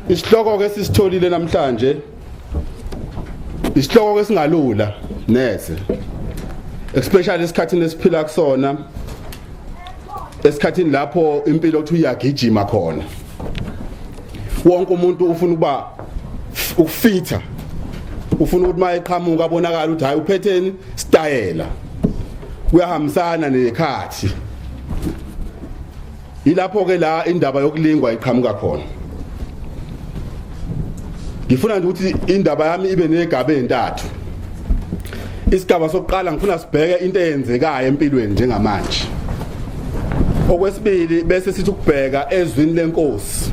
isihloko ke sisitholile namhlanje isihloko ke singalula neze especially esikhathini esiphila kusona esikhathini lapho impilo ukuthi uyagijima khona wonke umuntu ufuna ukuba ukufitha ufuna ukuthi mayeqhamuka abonakala ukuthi hayi uphetheni stayela kuyahambisana nekhathi ilapho ke la indaba yokulingwa iqhamuka khona ngifuna nje ukuthi indaba yami ibe negaba entathu isigaba sokuqala ngifuna sibheke into eyenzekayo empilweni njengamanje okwesibili bese sithi ukubheka ezwini lenkosi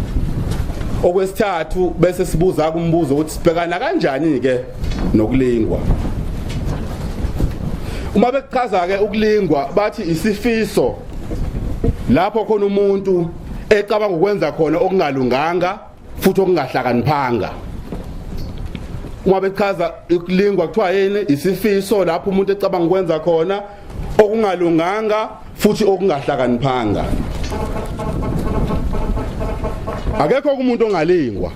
okwesithathu bese sibuza kumbuzo ukuthi sibhekana kanjani ke nokulingwa uma bekuchaza ke ukulingwa bathi isifiso lapho khona umuntu ecabanga ukwenza khona okungalunganga futhi okungahlakaniphanga uma bechaza ukulingwa kuthiwa yini isifiso lapho umuntu ecabanga ukwenza khona okungalunganga futhi okungahlakaniphanga akekho umuntu ongalingwa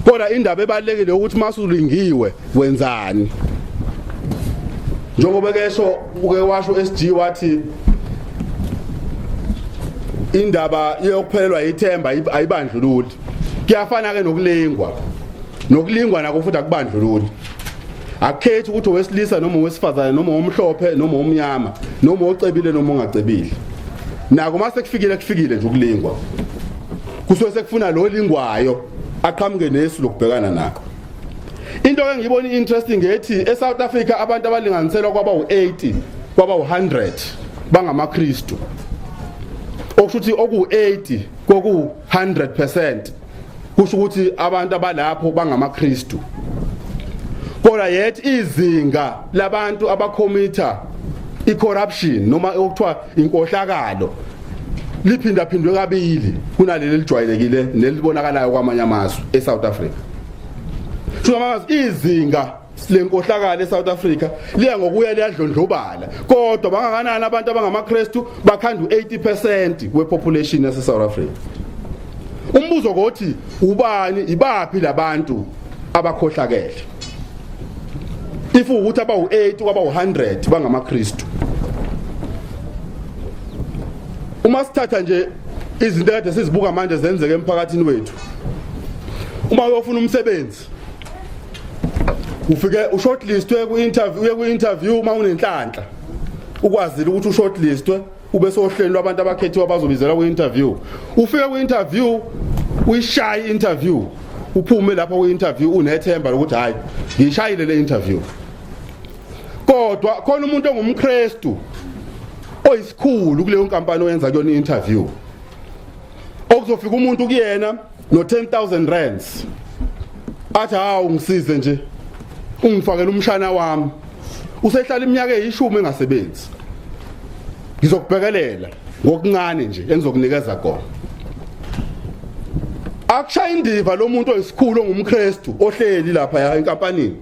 kodwa indaba ebalekile ukuthi masulingiwe wenzani njengoba kesho uke washo SG wathi indaba yokuphelelwa ithemba ayibandlululi kuyafana ke nokulingwa nokulingwa nako futhi akubandlululi akukhethi ukuthi owesilisa noma owesifazane noma omhlophe noma omnyama noma ocebile noma ongacebile nako uma sekufikile kufikile nje ukulingwa kusuke sekufuna lo lingwayo aqhamuke nesu lokubhekana nako into ke ngiyibona interesting ngethi eSouth Africa abantu abalinganiselwa kwaba u80 kwaba u100 bangamaKristu okushuthi oku80 koku 100% kusho ukuthi abantu abalapho bangamaKristu kodwa yet izinga labantu abakhomitha icorruption noma okuthiwa inkohlakalo liphinda phindwe kabili kunaleli lijwayelekile nelibonakalayo kwamanye amazwe eSouth Africa Shuka makazi izinga lenkohlakalo eSouth Africa liya ngokuya liyadlondlobala kodwa bangakanani abantu abangamaKristu bakhanda u80% wepopulation yase South Africa umbuzo kothi ubani ibaphi labantu abakhohlakele if ukuthi abawu8 kwaba u100 bangamaKristu uma sithatha nje izinto kade sizibuka manje zenzeke emphakathini wethu uma uyofuna umsebenzi ufike ushortlistwe ku-interview uye ku-interview uma unenhlanhla ukwazile ukuthi ushortlistwe ube sohlelo lwabantu abakhethiwe abazobizelwa kwi-interview ufike kwi-interview uyishaye i-interview uphume lapho kwi-interview unethemba lokuthi hhayi ngiyishayile le interview kodwa khona umuntu ongumkrestu oyisikhulu kuleyo nkampani oyenza kuyona i-interview okuzofika umuntu kuyena no 10000 rands athi hawu ngisize nje ungifakela umshana wami usehlala iminyaka eyishumi engasebenzi ngizokubhekelela ngokuncane nje engizokunikeza kona akushaya indiva lomuntu oyisikhulu ongumKristu ohleli lapha ya enkampanini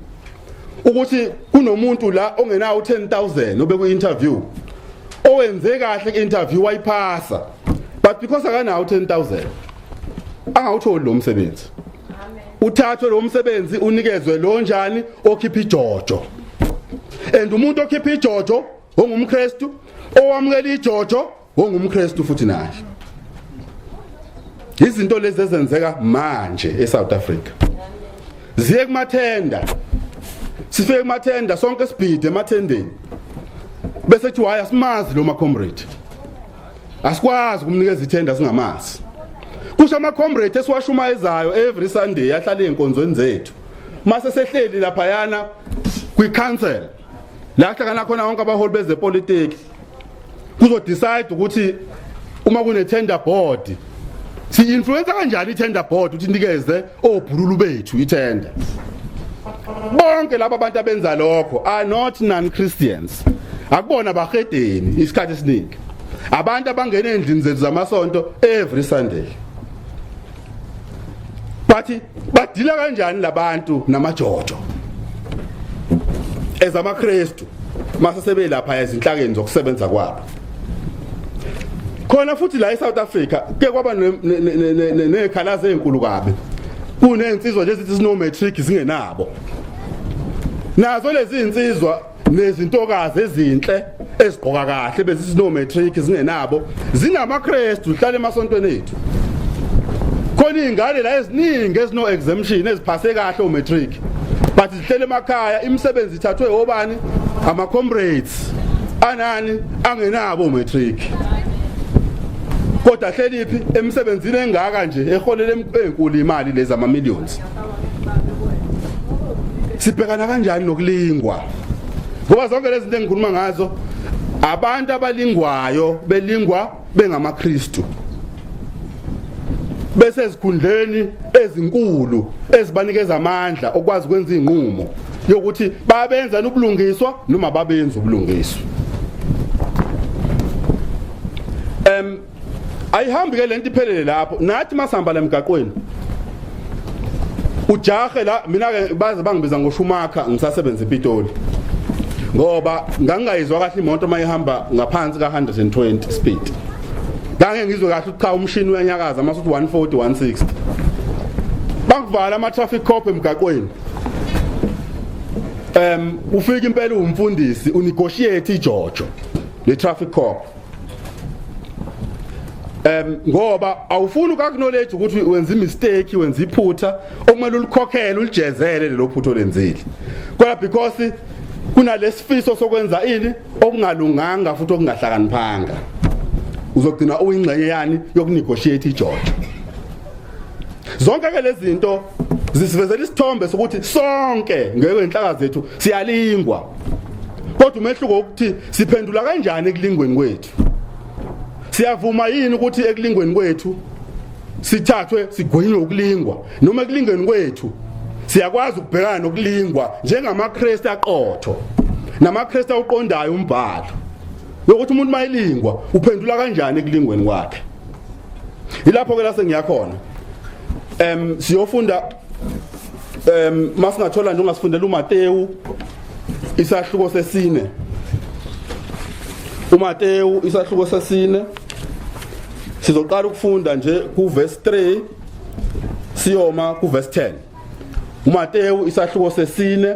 ukuthi kunomuntu la ongenawo 10000 obe ku interview owenze kahle interview wayiphasa but because akanawo 10000 angawutholi lo msebenzi uthathwe lo msebenzi unikezwe lo njani okhipha ijojo and umuntu okhipha ijojo ongumKristu owamukela ijojo ongumKristu futhi naye izinto lezi ezenzeka manje eSouth Africa ziye kumathenda sifike kumathenda sonke sibhide emathendeni bese kuthi waya simazi lo ma comrade asikwazi kumnikeza ithenda singamazi kusho ama comrade esiwashumayezayo every sunday ahlale enkonzweni zethu mase sehleli lapha yana kwi council la hlangana khona wonke abaholi bezepolitiki kuzo decide ukuthi uma kune tender board si influence kanjani i tender board ukuthi nikeze obhululu bethu ithenda bonke laba bantu abenza lokho are not non Christians akubona bahedeni isikhathi esiningi abantu abangena endlini zethu zamasonto every sunday bathi badila kanjani labantu namajojo ezamaKristu mase sebelapha ezinhlakeni zokusebenza kwabo khona futhi la eSouth Africa ke kwaba nekhalazo ezinkulu kabi kunezinsizwa nje zithi sino matric zingenabo nazo lezi zinsizwa nezintokazi ezinhle ezigqoka kahle bezisi no matric zingenabo zinamaKristu uhlala emasontweni ethu khona izingane la eziningi ezino exemption eziphase kahle o matric Hlele emakhaya imisebenzi ithathwe obani ama comrades anani angenabo matric kodwa hleliphi emsebenzini engaka nje eholela enkulu imali lezi ama millions sibhekana kanjani nokulingwa ngoba zonke lezi zinto engikhuluma ngazo abantu abalingwayo belingwa bengamaKristu bese ezikhundleni ezinkulu ezibanikeza amandla okwazi ukwenza inqumo yokuthi babenza ubulungiswa noma babenza ubulungiswa em ayihambi ke lento iphelele lapho nathi masihamba la emgaqweni ujahe la mina ke baze bangibiza ngoshumakha ngisasebenza ePitoli ngoba ngangingayizwa kahle imoto mayihamba ngaphansi ka 120 speed ngange ngizwe kahle ukuthi cha umshini uyanyakaza uma uthi 140 160 bakuvala ama traffic cop emgaqweni um ufika impela umfundisi unegotiate ijojo le traffic cop um ngoba awufuni ukakunoleji ukuthi wenza imistake wenza iphutha okumele ulikhokhele ulijezele lelo phutha olenzile kodwa because kunalesifiso sokwenza ini okungalunganga futhi okungahlakaniphanga uzogcina uyingxenye yani yokunegotiate iJojo zonke ke lezi zinto zisivezela isithombe sokuthi sonke ngeke inhlaka zethu siyalingwa kodwa umehluko ukuthi siphendula kanjani ekulingweni kwethu siyavuma yini ukuthi ekulingweni kwethu sithathwe sigwinywe ukulingwa noma ekulingweni kwethu siyakwazi ukubhekana nokulingwa njengamaKristu aqotho namaKristu awuqondayo umbhalo yokuthi umuntu mayilingwa uphendula kanjani ekulingweni kwakhe ilapho ke lase ngiyakhona em siyofunda em masingathola nje ungasifundela uMateyu isahluko sesine uMateyu isahluko sesine sizoqala ukufunda nje ku verse 3 siyoma ku verse 10 uMateyu isahluko sesine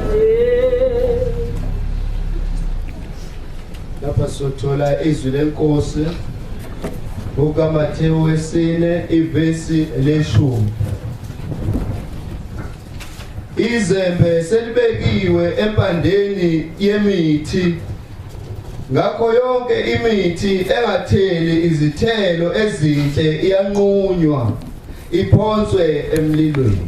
lapha sothola izwi lenkosi kukaMathewu wesine ivesi leshumi izembe selibekiwe empandeni yemithi ngakho yonke imithi engatheli izithelo ezinhle iyanqunywa iphonswe emlilweni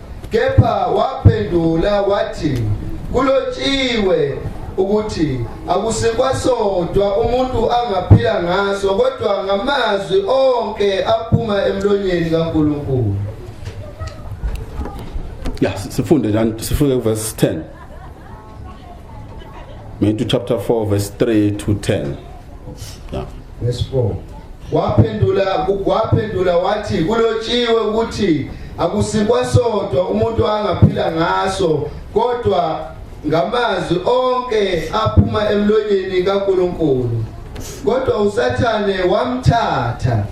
Kepha waphendula wathi, Kulotshiwe ukuthi akusikwasodwa umuntu angaphila ngaso kodwa ngamazwi onke aphuma emlonyeni kaNkulunkulu. Ya, sifunde njani? Sifunde kuverse 10. Matthew chapter 4 verse 3 to 10. Yeah. Verse 4. Waphendula waphendula wathi kulotshiwe ukuthi akusikwa sodwa umuntu angaphila ngaso kodwa ngamazwi onke aphuma emlonyeni kaNkuluNkulu kodwa usathane wamthatha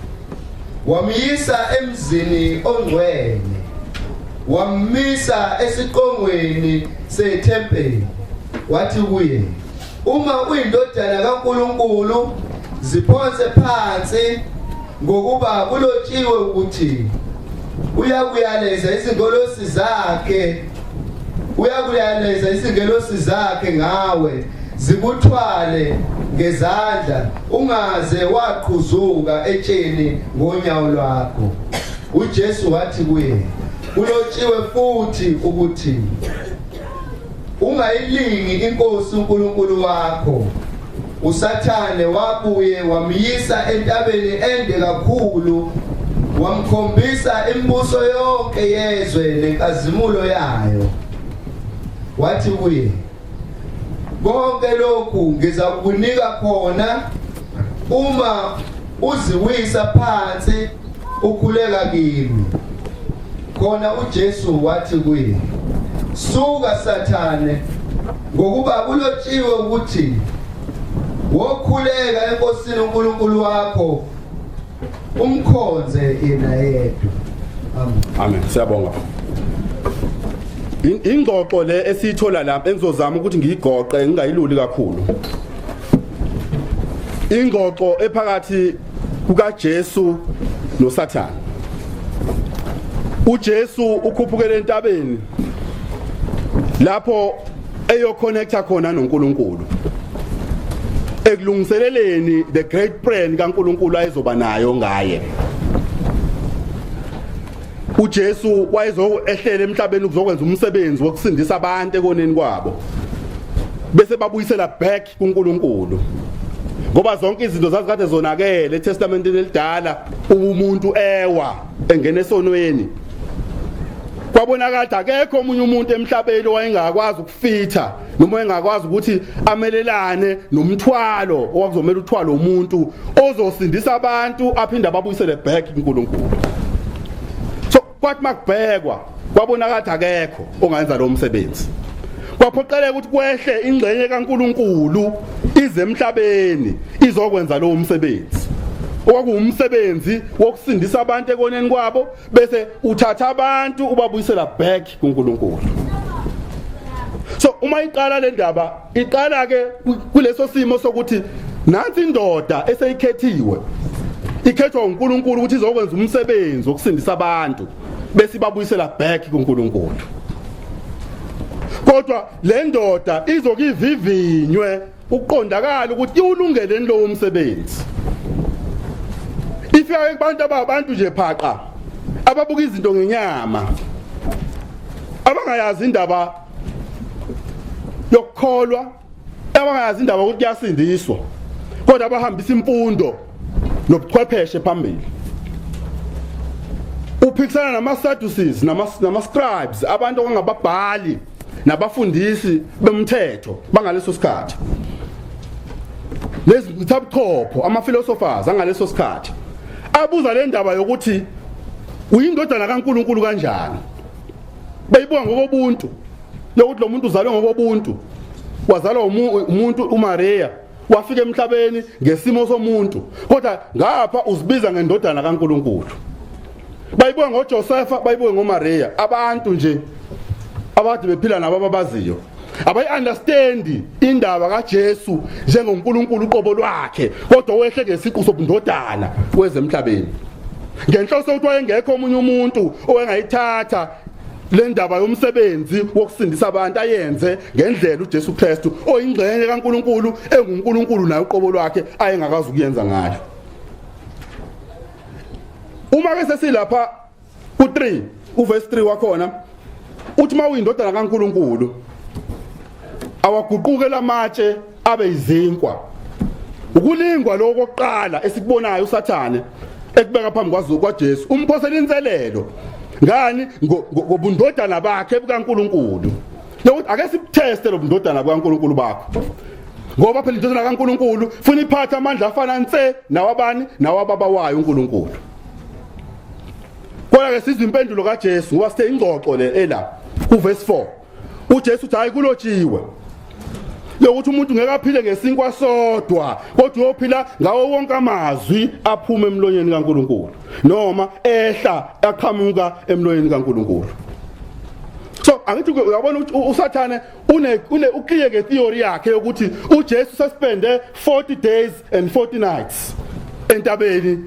wamyisa emzini ongcwele Wammisa esiqongweni sethempeli wathi kuye uma uyindodana kaNkuluNkulu ziphonse phansi ngokuba kulotshiwe ukuthi uyakuyaleza izingolosi zakhe uyakuyaleza izingelosi zakhe ngawe zikuthwale ngezandla ungaze waqhuzuka etsheni ngonyawo lwakho UJesu wathi kuye, kulotshiwe futhi ukuthi ungayilingi inkosi uNkulunkulu wakho. USathane wabuye wamyisa entabeni ende kakhulu wamkhombisa imibuso yonke yezwe nenkazimulo yayo. Wathi kuye, konke lokhu ngizakukunika khona uma uziwisa phansi ukhuleka kimi khona uJesu wathi kuye suka sathane ngokuba kulotshiwe ukuthi wokhuleka enkosini uNkulunkulu wakho umkhonze yena yedwa amen amen siyabonga ingxoxo le esiyithola lapha engizozama ukuthi ngiyigoqe ngingayiluli kakhulu ingxoxo ephakathi kukaJesu noSathane uJesu ukhuphukele entabeni lapho eyoconnecta khona noNkulunkulu ekulungiseleleni the great plan kaNkulunkulu ayezoba nayo ngaye uJesu wayezoehlela emhlabeni ukuzokwenza umsebenzi wokusindisa abantu ekoneni kwabo bese babuyisela back kuNkulunkulu ngoba zonke izinto zazikade zonakele eTestamenteni elidala umuntu ewa engena esonweni kwabonakala akekho omunye umuntu emhlabeni owayengakwazi ukufitha noma engakwazi ukuthi amelelane nomthwalo owakuzomela uthwalo umuntu ozosindisa abantu aphinde ababuyisele back kuNkulunkulu kwathi makubhekwa kwabonakala ukuthi akekho ongayenza lo msebenzi kwaphoqeleka ukuthi kwehle ingxenye kaNkuluNkulu ize emhlabeni izokwenza lowo msebenzi okwakuwumsebenzi wokusindisa abantu ekoneni kwabo bese uthatha abantu ubabuyisela back kuNkuluNkulu so uma iqala le ndaba Iqala ke kuleso simo sokuthi nansi indoda eseyikhethiwe ikhethwa uNkulunkulu ukuthi izokwenza umsebenzi wokusindisa abantu bese ibabuyisela back kuNkulunkulu kodwa le ndoda izokivivinywe ukuqondakala ukuthi iwulungeleni lowo msebenzi ifika kubantu ababantu nje phaqa ababuka izinto ngenyama abangayazi indaba yokukholwa abangayazi indaba ukuthi kuyasindiswa kodwa abahambisa imfundo nobuchwepheshe phambili uphikisana nama-sadducees nama-scribes nama abantu okungababhali nabafundisi bemthetho bangaleso sikhathi lezi ngithabuchopho ama-philosophers angaleso sikhathi abuza le ndaba yokuthi uyindodana kaNkuluNkulu kanjani bayibuka ngokobuntu lokuthi lo muntu uzalwe ngokobuntu wazalwa umuntu uMaria wafika emhlabeni ngesimo somuntu kodwa ngapha uzibiza ngendodana kaNkuluNkulu bayibuka ngoJosefa bayibuke ngoMaria abantu nje abathi bephila nabo ababaziyo abayi-understandi indaba kajesu njengonkulunkulu uqobo lwakhe kodwa wehle ngesiqu sobundodana kwezemhlabeni ngenhloso ukuthi wayengekho omunye umuntu owengayithatha le ndaba yomsebenzi wokusindisa abantu ayenze ngendlela uJesu Kristu oyingxenye kaNkuluNkulu enguNkuluNkulu naye uqobo lwakhe ayengakazi ukuyenza ngayo uma ke sesilapha Ku3 uverse 3 wakhona uthi mawuyindodana kaNkuluNkulu awaguquke lamatshe abe izinkwa ukulingwa lokho kokuqala esikubonayo usathane ekubeka phambi kwaZulu kwaJesu umphosela inselelo ngani ngobundodana bakhe bukaNkuluNkulu nokuthi ake sibuteste lobundodana bukaNkuluNkulu bakho ngoba phela indodana kaNkuluNkulu funa iphatha amandla afana nse nawabani nawababa wayo uNkuluNkulu Kodwa ke sizwe impendulo kaJesu ngoba sithe ingxoxo le ela kuverse 4. UJesu uthi hayi kulotshiwe yokuthi umuntu ngeke aphile ngesinkwa sodwa kodwa uyophila ngawo wonke amazwi aphume emlonyeni kaNkuluNkulu noma ehla aqhamuka emlonyeni kaNkuluNkulu so angithi uyabona ukuthi usathane une une uclear ke theory yakhe ukuthi uJesu sespende 40 days and 40 nights entabeni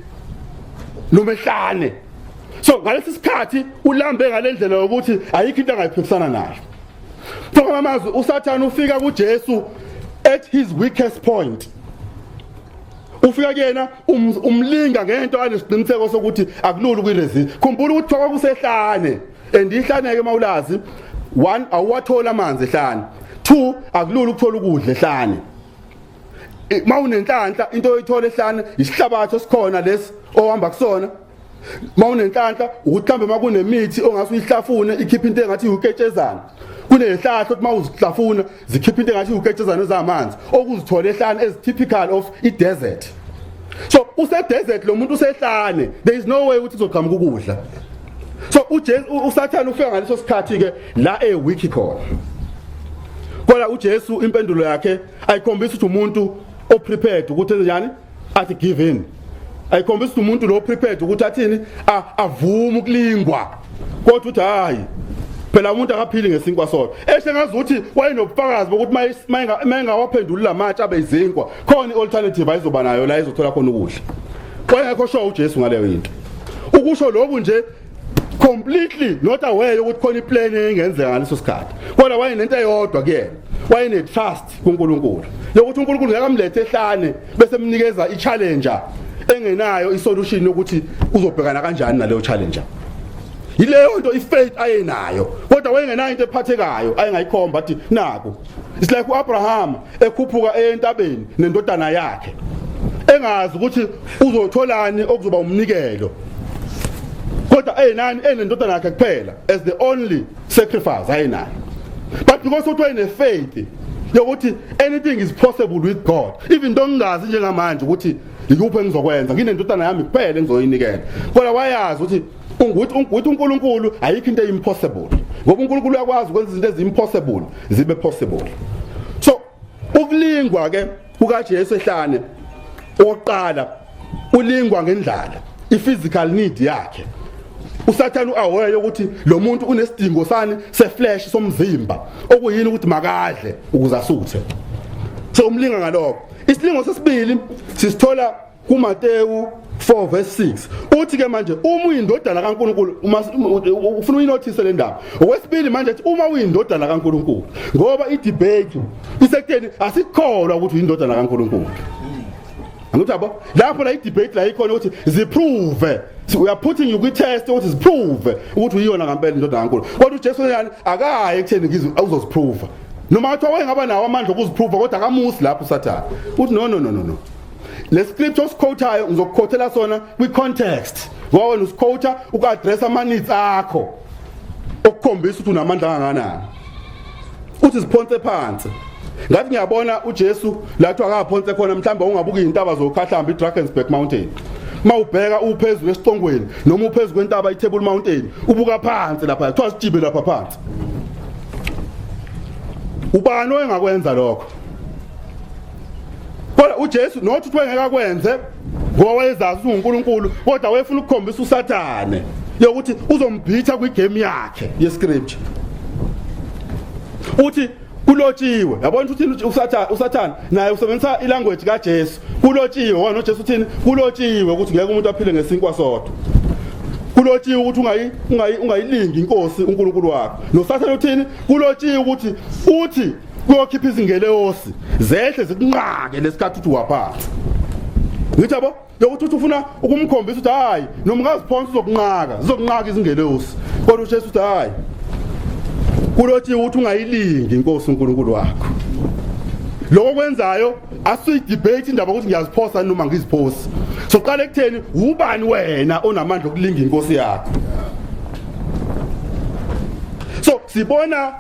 nomehlane so ngalesi sikhathi ulambe ngalendlela yokuthi ayikho into angayiphikisana nayo Thokola amazwi uSathane ufika kuJesu at his weakest point ufika kuyena um, umlinga ngento anesiqiniseko sokuthi akulula ukuyiresist khumbula ukuthi kwakusehlane and ihlaneke mawulazi one awuwathola amanzi ehlane two akulula ukuthola ukudla ehlane mawunenhlanhla into oyithola ehlane isihlabathi esikhona lesi ohamba kusona mawunenhlanhla ukuthi mhlambe makunemithi ongase uyihlafune ikhiphe into engathi uketshezana kunezihlahla ukuthi mawuzihlafuna zikhipha into engathi uketshezana zamanzi okuzithola ehlane as typical of i desert so use desert lo muntu usehlane there is no way ukuthi uzoqhamuka ukudla so uJesu usathana ufika ngaleso sikhathi ke la e wiki khona kodwa uJesu impendulo yakhe ayikhombisa ukuthi umuntu oprepared ukuthi enze njani athi give in ayikhombisa ukuthi umuntu lo prepared ukuthi athini avume ukulingwa kodwa uthi hayi phela umuntu akaphili ngesinkwa sodwa eshe ngazi ukuthi wayenobufakazi bokuthi mayengawaphenduli la matshe abe izinkwa khona i-alternative ayizoba nayo la izothola khona ukudla wayengekho sho ujesu ngaleyo yinto ukusho lokhu nje completely not aware ukuthi khona iplan engenzeka ngaleso sikhathi kodwa wayenento eyodwa kuyena wayene trust kuNkulunkulu lokuthi uNkulunkulu ngeke amlethe ehlane bese mnikeza i challenge engenayo i solution yokuthi uzobhekana kanjani naleyo challenge yileyo nto ifaith ayenayo kodwa wayengenayo into ephathekayo ayengayikhomba athi naku it's like uAbraham ekhuphuka eyentabeni nendodana yakhe engazi ukuthi uzotholani okuzoba umnikelo kodwa ayinani enendodana yakhe kuphela as the only sacrifice ayinani but because uthi wayenefaith yokuthi anything is possible with God even though ngingazi njengamanje ukuthi yikuphi engizokwenza nginendodana yami kuphela engizoyinikela kodwa wayazi ukuthi ungukuthi ungukuthi uNkulunkulu ayikho into impossible ngoba uNkulunkulu uyakwazi ukwenza izinto ezimpossible zibe possible so ukulingwa ke kukaJesu ehlane oqala ulingwa ngendlala iphysical need yakhe usathane uaware ukuthi lo muntu unesidingo sani seflesh somzimba okuyini ukuthi makadle ukuze asuthe so umlinga ngaloko isilingo sesibili sisithola kuMateyu 4 verse 6 uthi ke manje uma uyindodana kaNkuluNkulu uma ufuna uyinothise le ndaba okwesibili manje ethi uma uyindodana kaNkuluNkulu ngoba idebate isekutheni asikholwa ukuthi uyindodana kaNkuluNkulu angithi yabo lapho la idebate la ikhona ukuthi ziprove we are putting you kwi test ukuthi ziprove ukuthi uyiyona ngempela indodana kaNkulu kodwa uJesu yani akaye ekutheni ngizwe awuzoziprove noma kuthiwa wayengaba nawo amandla okuziprove kodwa akamusi lapho usathane uthi no no no no le script osikhothayo ngizokukhothela sona kwi context ngoba wena usikhotha ukaddress ama needs akho okukhombisa ukuthi unamandla kangakanani uthi siphonse phansi ngathi ngiyabona uJesu lathi akaphonse khona mhlawumbe ungabuka izintaba zokhahlamba iDrakensberg Mountain mawubheka uphezulu esiqongweni noma uphezulu kwentaba iTable Mountain ubuka phansi lapha kuthiwa sijibe lapha phansi ubani oyengakwenza lokho kodwa uJesu nothi uthiwa ngeke akwenze ngoba wayezazi ukuthi unguNkulunkulu kodwa wayefuna ukukhombisa uSathane yokuthi uzombhitha kwigame yakhe yescripture uthi kulotshiwe yabona ukuthi uthini usathana usathana naye usebenzisa ilanguage kaJesu kulotshiwe wona uJesu uthini kulotshiwe ukuthi ngeke umuntu aphile ngesinkwa sodwa kulotshiwe ukuthi ungayi ungayi ungayilingi inkosi uNkulunkulu wakho nosathana uthini kulotshiwe ukuthi uthi kuyokhipha izingeleosi zehle zikunqake lesikhathi uthi waphatha ngithi yabo yokuthi uthi ufuna ukumkhombisa ukuthi hayi noma ungaziphonsa uzokunqaka zizokunqaka izingeleosi kodwa uJesu uthi hayi kulothi ukuthi ungayilingi inkosi uNkulunkulu wakho lokho kwenzayo asiyidebate indaba ukuthi ngiyaziphosa noma ngiziphosi soqala ekutheni ubani wena onamandla okulinga inkosi yakho so sibona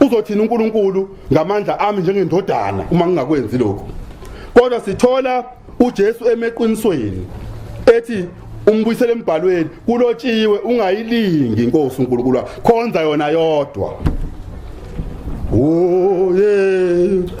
Uzothini uNkulunkulu ngamandla ami njengendodana uma ngingakwenzi lokho? Kodwa sithola uJesu emeqinisweni ethi umbuyisele embhalweni kulotshiwe ungayilingi inkosi uNkulunkulu wakho khonza yona yodwa. Oh yeah.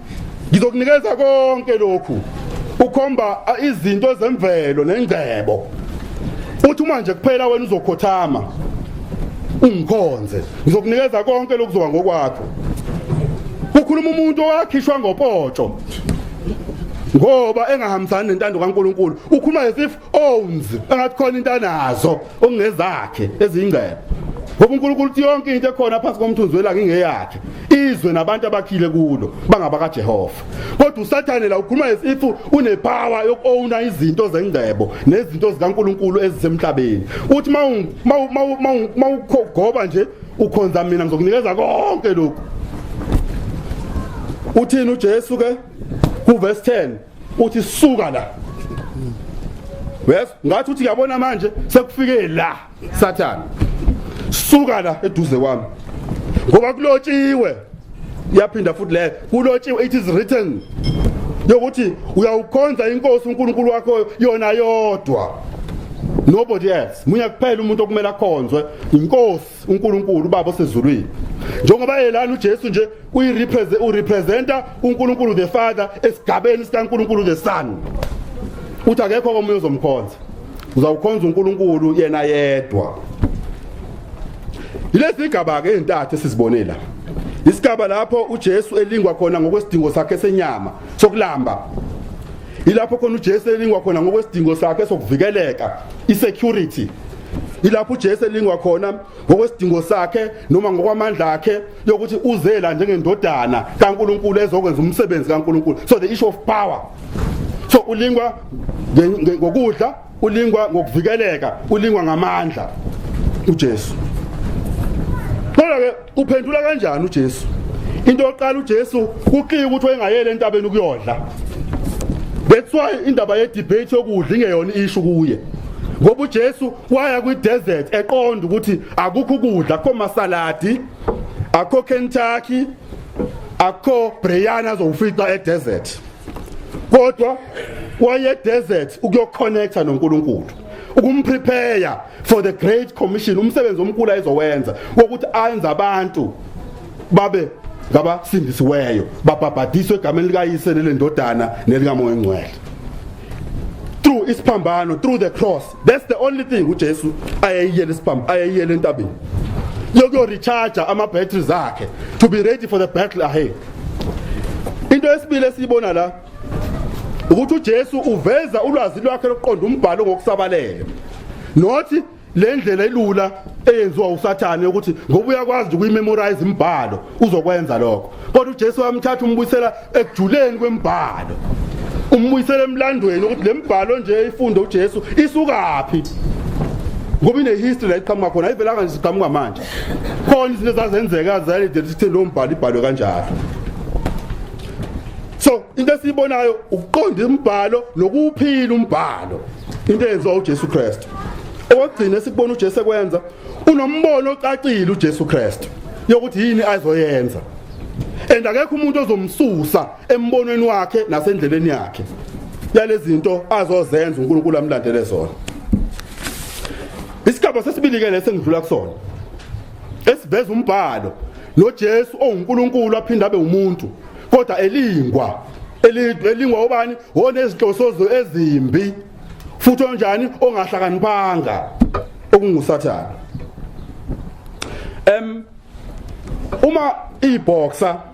Ngizokunikeza konke lokhu ukhomba izinto zemvelo nengcebo uthi uma nje kuphela wena uzokhothama ungikhonze ngizokunikeza konke lokuzoba ngokwakho kukhuluma umuntu owakhishwa ngopotsho ngoba engahambisani nentando kaNkuluNkulu ukhuluma as if owns engathi khona into anazo okungezakhe ezingcebo ngoba uNkulunkulu uthi yonke into ekhona phansi komthunzi welanga ingeyakhe izwe nabantu abakhile kulo bangabaka Jehova kodwa usathane la ukhuluma as if unepower yokowna izinto zengcebo nezinto zikaNkulunkulu ezisemhlabeni uthi mawugoba nje ukhonza mina ngizokunikeza konke lokhu uthini uJesu ke kuverse 10 uthi suka la wes ngathi uthi yabona manje sekufike la sathana suka la eduze kwami ngoba kulotshiwe yaphinda futhi le kulotshiwe it is written yokuthi uyawukhonza inkosi uNkulunkulu wakho yona yodwa nobody else munye kuphela umuntu okumele akhonzwe inkosi uNkulunkulu ubaba osezulwini njengoba elana uJesu nje uyirepresent urepresenta uNkulunkulu the Father esigabeni sikaNkulunkulu the Son uthi akekho omunye ozomkhonza uzawukhonza uNkulunkulu yena yedwa Yilezi igaba ke ezintathu esizibonela isigaba lapho uJesu elingwa khona ngokwesidingo sakhe senyama sokulamba ilapho khona uJesu elingwa khona ngokwesidingo sakhe sokuvikeleka isecurity Ilapho uJesu elingwa khona ngokwesidingo sakhe noma ngokwamandla akhe yokuthi uzela njengendodana kaNkuluNkulu ezokwenza umsebenzi kaNkuluNkulu. So the issue of power. So ulingwa ngokudla, ulingwa ngokuvikeleka, ulingwa ngamandla uJesu. Kodwa ke Uphendula kanjani uJesu? Into yokuqala uJesu kuqike ukuthi wayengayele entabeni ukuyodla. That's why indaba ye debate yokudla ingeyona ishu kuye. Ngoba uJesu waya kwi desert eqonda ukuthi akukho ukudla, akho masaladi, akho Kentucky, akho Brianna zofica e desert. Kodwa waye desert ukuyoconnecta noNkulunkulu. ukumprepare for the great commission umsebenzi omkhulu ayizowenza wokuthi ayenze abantu babe ngabasindisiweyo babhabhadiswe egameni likayise nelendodana nelikamoya ongcwele through isiphambano through the cross that's the only thing uJesu ayeyiyele isiphambano ayeyiyele entabeni yokuyo recharge ama batteries akhe to be ready for the battle ahead into esibili esiyibona la ukuthi uJesu uveza ulwazi lwakhe lokuqonda umbhalo ngokusabalele nothi le ndlela elula eyenziwa usathane yokuthi ngoba uyakwazi nje ukuyimemorize imibhalo uzokwenza lokho kodwa uJesu wamthatha umbuyisela ekujuleni kwemibhalo umbuyisela emlandweni ukuthi le mibhalo nje ifunde uJesu isukaphi ngoba ine history la iqhamuka khona ayivelanga nje siqhamuka manje khona izinto ezazenzeka zayidela ukuthi lo mbhalo ibhalwe kanjalo so into esiyibonayo ukuqonda imbhalo nokuphila umbhalo into eyenziwa uJesu Kristu okugcina sikubona uJesu ekwenza unombono ocacile uJesu Kristu yokuthi yini azoyenza and akekho umuntu ozomsusa embonweni wakhe nasendleleni yakhe yalezinto azozenza uNkulunkulu amlandele zona isigaba sesibili ke lesengidlula kusona esiveza umbhalo noJesu onguNkulunkulu aphinde abe umuntu kodwa elingwa elingwa obani onezinhlosozo ezimbi futhi onjani ongahlakaniphanga okungusathana em uma iboxer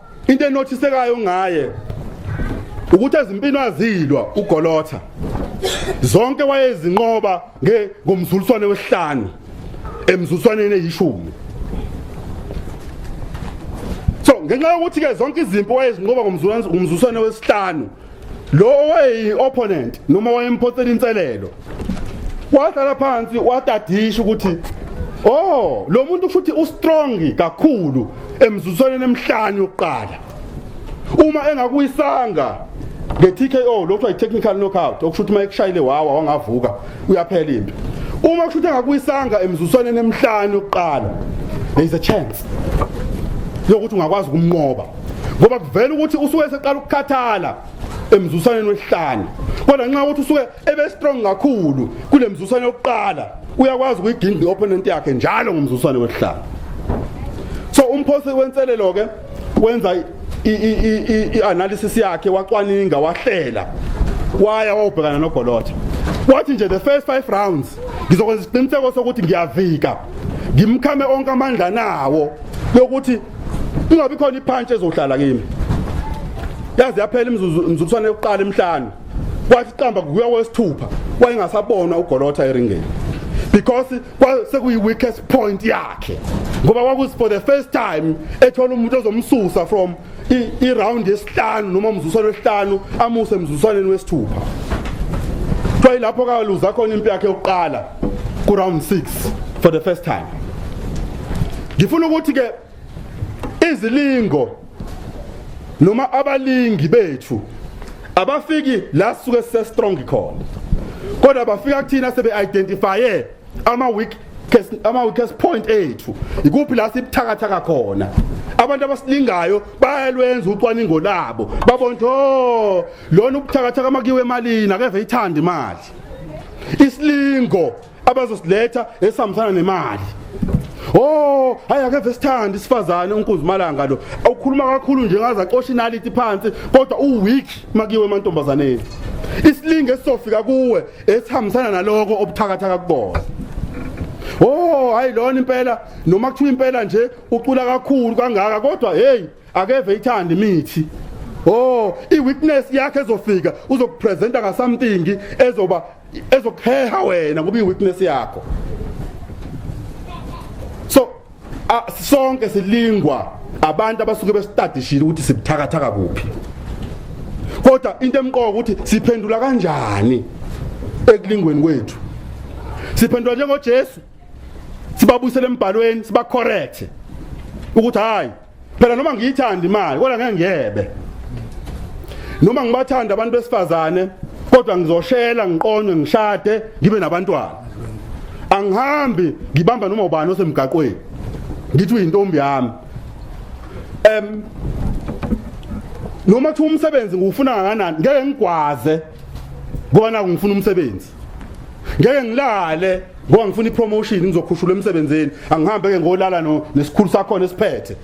Into enothisekayo ngaye ukuthi ezimpini azilwa ugolotha zonke wayezinqoba nge ngomzuliswane wesihlanu emzuliswaneni eyishumi so ngenxa yokuthi ke zonke izimpi wayezinqoba ngomzuliswane wesihlanu lo owayeyi-opponent noma wayemphonsela inselelo wahlala phansi watadisha ukuthi oh lo muntu futhi ustrong kakhulu emzuzwaneni emhlanje yokuqala uma engakuyisanga nge-TKO lokho yi-technical knockout okusho ukuthi uma ekushayile wawa wangavuka uyaphela impi uma kusho ukuthi engakuyisanga emzuzwaneni emhlanje yokuqala there is a chance yokuthi ungakwazi ukumnqoba ngoba kuvela ukuthi usuke eseqala ukukhathala emzusaneni wesihlanu kodwa nxa ukuthi usuke ebe strong kakhulu kule mzusane yokuqala uyakwazi ukuyiginda i-opponent yakhe njalo ngomzusane wesihlanu so umphosi wenselelo ke wenza i-analysis yakhe wacwaninga wahlela waya wawubhekana nogolotha wathi nje the first five rounds ngizokwenza isiqiniseko sokuthi ngiyavika ngimkhame onke amandla nawo yokuthi kungabi khona iphantshi ezohlala kimi yaze yaphela imizuzu imizuzwana yokuqala emhlanu kwathi qamba kuya wesithupha wayengasabona ugolotha eringeni because sekuyi weakest point yakhe ngoba kwakusi for the first time ethola umuntu ozomsusa from i round yesihlanu noma umzuzwana wesihlanu amuse emzuzwaneni wesithupha kwayi lapho kaluza khona impi yakhe yokuqala ku round 6 for the first time ngifuna ukuthi ke izilingo noma abalingi bethu abafiki la suke se strong khona kodwa bafika kuthina sebe identifye ama weak ama weakest point ethu ikuphi la sibuthakathaka khona abantu abasilingayo bayalwenza ucwaningo labo babona ukuthi oh lona ubuthakathaka makiwe emalini akeve ithanda imali isilingo abazosiletha esihambisana nemali Oh, hayi ake vesithanda isifazane uNkuzimalanga lo. Awukhuluma kakhulu nje ngaze acosha inaliti phansi kodwa u weak makiwe emantombazaneni. Isilinge esizofika kuwe esihambisana naloko obuthakathaka kubona. Oh, hayi lona impela noma kuthiwa impela nje ucula kakhulu kangaka kodwa hey akeve ithanda imithi oh iwitness yakhe ezofika uzokupresenta nga something ezoba ezokuheha wena ngoba iwitness yakho so uh, sonke silingwa abantu abasuke besitadishile ukuthi sibuthakathaka kuphi kodwa into emqoka ukuthi siphendula kanjani ekulingweni kwethu siphendula njengoJesu sibabuyisele embhalweni sibacorrect ukuthi hayi phela noma ngiyithanda imali kodwa ngeke ngiyebe noma ngibathanda abantu besifazane kodwa ngizoshela ngiqonywe ngishade ngibe nabantwana angihambi ngibamba noma ubani osemgaqweni ngithi uyintombi yami em noma kuthiwa umsebenzi ngiwufuna kangakanani ngeke ngigwaze kona ngifuna umsebenzi ngeke ngilale ngoba ngifuna ipromotion ngizokhushula emsebenzini angihambe ke ngolala no nesikhulu sakho nesiphethe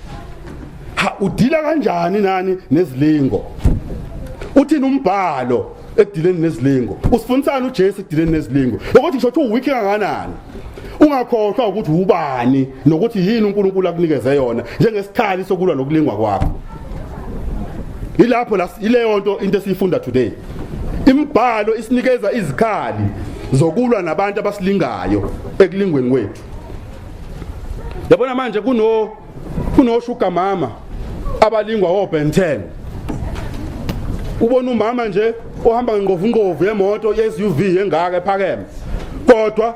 ha udila kanjani nani nezilingo uthini umbhalo ekudileni nezilingo usifundisana uJesu ekudileni nezilingo ukuthi ngisho ukuthi uweak kanganani ungakhohlwa ukuthi ubani nokuthi yini uNkulunkulu akunikeze yona njengesikhali sokulwa nokulingwa kwakho ilapho la ileyo nto into esiyifunda today Imibhalo isinikeza izikhali zokulwa nabantu abasilingayo ekulingweni kwethu. Yabona manje kuno kunoshuga mama abalingwa oben 10 ubona umama nje ohamba ngengovu ngovu yemoto yeSUV engaka ephakeme kodwa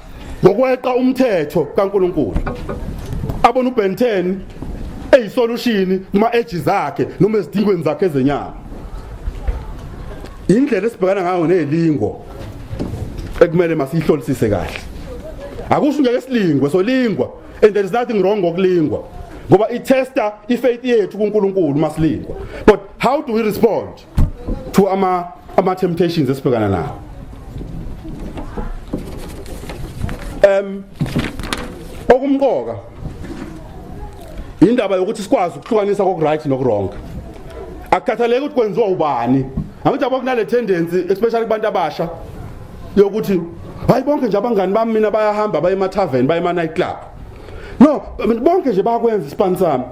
ngokweqa umthetho kaNkuluNkulu abona uBen 10 eyisolution kuma edge zakhe noma ezidingweni zakhe ezenyama indlela esibhekana ngayo nelingo ekumele masihlolisise kahle akusho ngeke silingwe solingwa and there is nothing wrong ngokulingwa ngoba i tester i faith yethu kuNkulunkulu masilingwa but how do we respond to ama ama temptations esibhekana nawo em okumqoka indaba yokuthi sikwazi ukuhlukanisa kokuright nokurong akukhathaleki ukuthi kwenziwa ubani angithi abo kunale tendency especially kubantu abasha yokuthi hayi bonke nje abangani bami mina bayahamba baye ema tavern baye ema night club no bonke nje bayakwenza ispan sami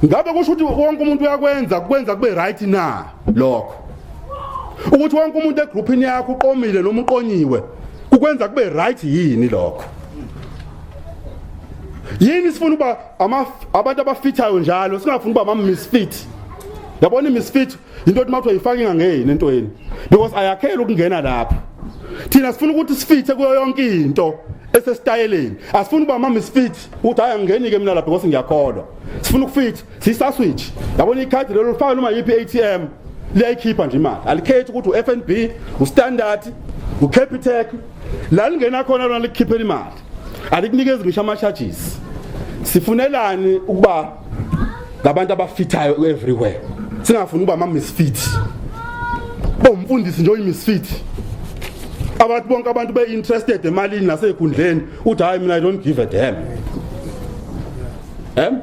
ngabe kusho ukuthi wonke umuntu uyakwenza kwenza kube right na lokho ukuthi wonke umuntu egroupini yakho uqomile noma uqonyiwe ukwenza kube right yini lokho yini sifuna uba abantu abafithayo njalo singafuni uba ama misfit yabona imisfit into ethi mawuthiwa yifaka ingangeni entweni because ayakhela ukungena lapho thina sifuna ukuthi sifithe kuyo yonke into esesitayeleni asifuni uba mama isifithi ukuthi hayi angingenike mina lapha because ngiyakholwa sifuna ukufitha siyisaswitch yabona ikhadi lelo lifaka noma yiphi i-atm liyayikhipha nje imali alikhethi ukuthi u-fnb ustandard ucapitec la lingena khona lona likukhiphela imali alikunikezi ngisho ama charges sifunelani ukuba ngabantu abafithayo everywhere singafuni ukuba ama misfit bomfundisi nje uyimisfit abantu bonke abantu be interested emalini nasekhundleni uthi hayi mina i don't give a damn em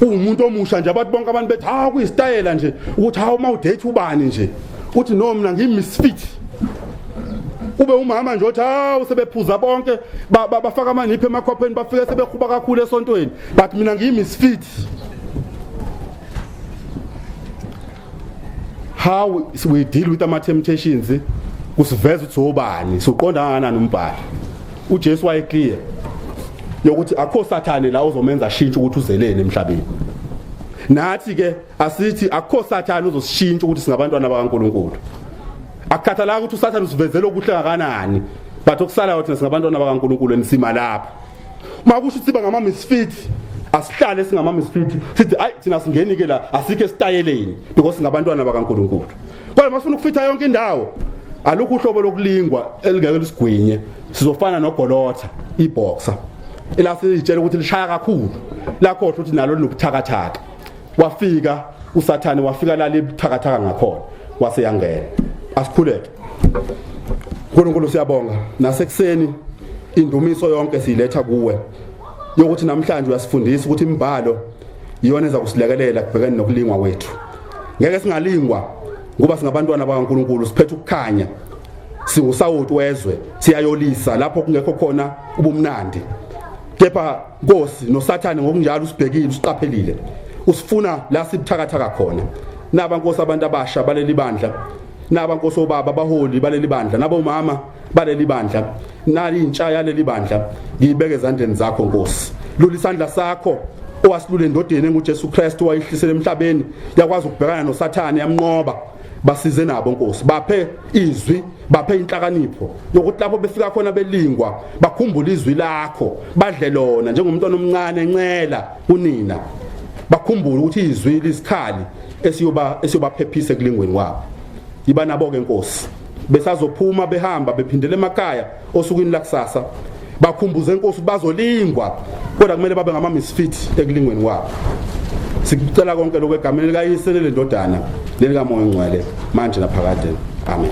umuntu omusha nje abantu bonke abantu bethi ha kuyistayela nje ukuthi ha uma udate ubani nje uthi no mina ngimisfit ube umama nje othi hawu sebephuza bonke bafaka amaniphi emakhwapheni bafike sebehuba kakhulu esontweni but mina ngiyimisfit how we deal with ama temptations kusiveza ukuthi obani soqonda kangakanani umbhalo uJesu wayeclear yokuthi akho sathane la uzomenza shintsha ukuthi uzeleni emhlabeni nathi ke asithi akukho sathane uzosishintsha ukuthi singabantwana bakaNkuluNkulu akukhathalanga ukuthi usathane usivezela okuhle kangakanani but okusalayo thina singabantwana bakaNkuluNkulu enisima lapha uma kusho ukuthi bangama misfit asihlale singama misfit sithi ayi thina singeni ke la asike sitayeleni because singabantwana bakaNkuluNkulu kodwa masifuna ukufitha yonke indawo alukho uhlobo lokulingwa elingeke lisigwinye sizofana nogolotha iboxer elasitshela ukuthi lishaya kakhulu lakhohlwa ukuthi nalo linobuthakathaka wafika usathane wafika lala ebuthakathaka ngakhona wase yangena asikhuleke uNkulunkulu siyabonga nasekuseni indumiso yonke siyiletha kuwe yokuthi namhlanje uyasifundisa ukuthi imbhalo iyona eza kusilekelela kubhekene nokulingwa wethu ngeke singalingwa ngoba singabantwana bakaNkuluNkulu siphethe ukukhanya singusawoti wezwe siyayolisa lapho kungekho khona ubumnandi kepha Nkosi noSathane ngokunjalo usibhekile usiqaphelile usifuna la sibuthakathaka khona naba nkosi abantu abasha baleli bandla naba nkosi obaba abaholi baleli bandla nabo mama baleli bandla nali intsha yaleli bandla ngiyibeke ezandleni zakho nkosi lula isandla sakho owasilule endodeni enguJesu Kristu wayihlisela emhlabeni yakwazi ukubhekana noSathane yamnqoba basize nabo nkosi baphe izwi baphe inhlakanipho yokuthi lapho befika khona belingwa bakhumbule izwi lakho badle lona njengomntwana omncane encela kunina bakhumbule ukuthi izwi lisikhali esiyoba esiyobaphephisa ekulingweni kwabo iba nabo ke nkosi besazophuma behamba bephindele emakhaya osukwini lakusasa bakhumbuze inkosi bazolingwa kodwa kumele babe ngama misfit ekulingweni kwabo sikucela konke lokho egameni likayise lendodana lelikamoya ongcwele manje naphakade amen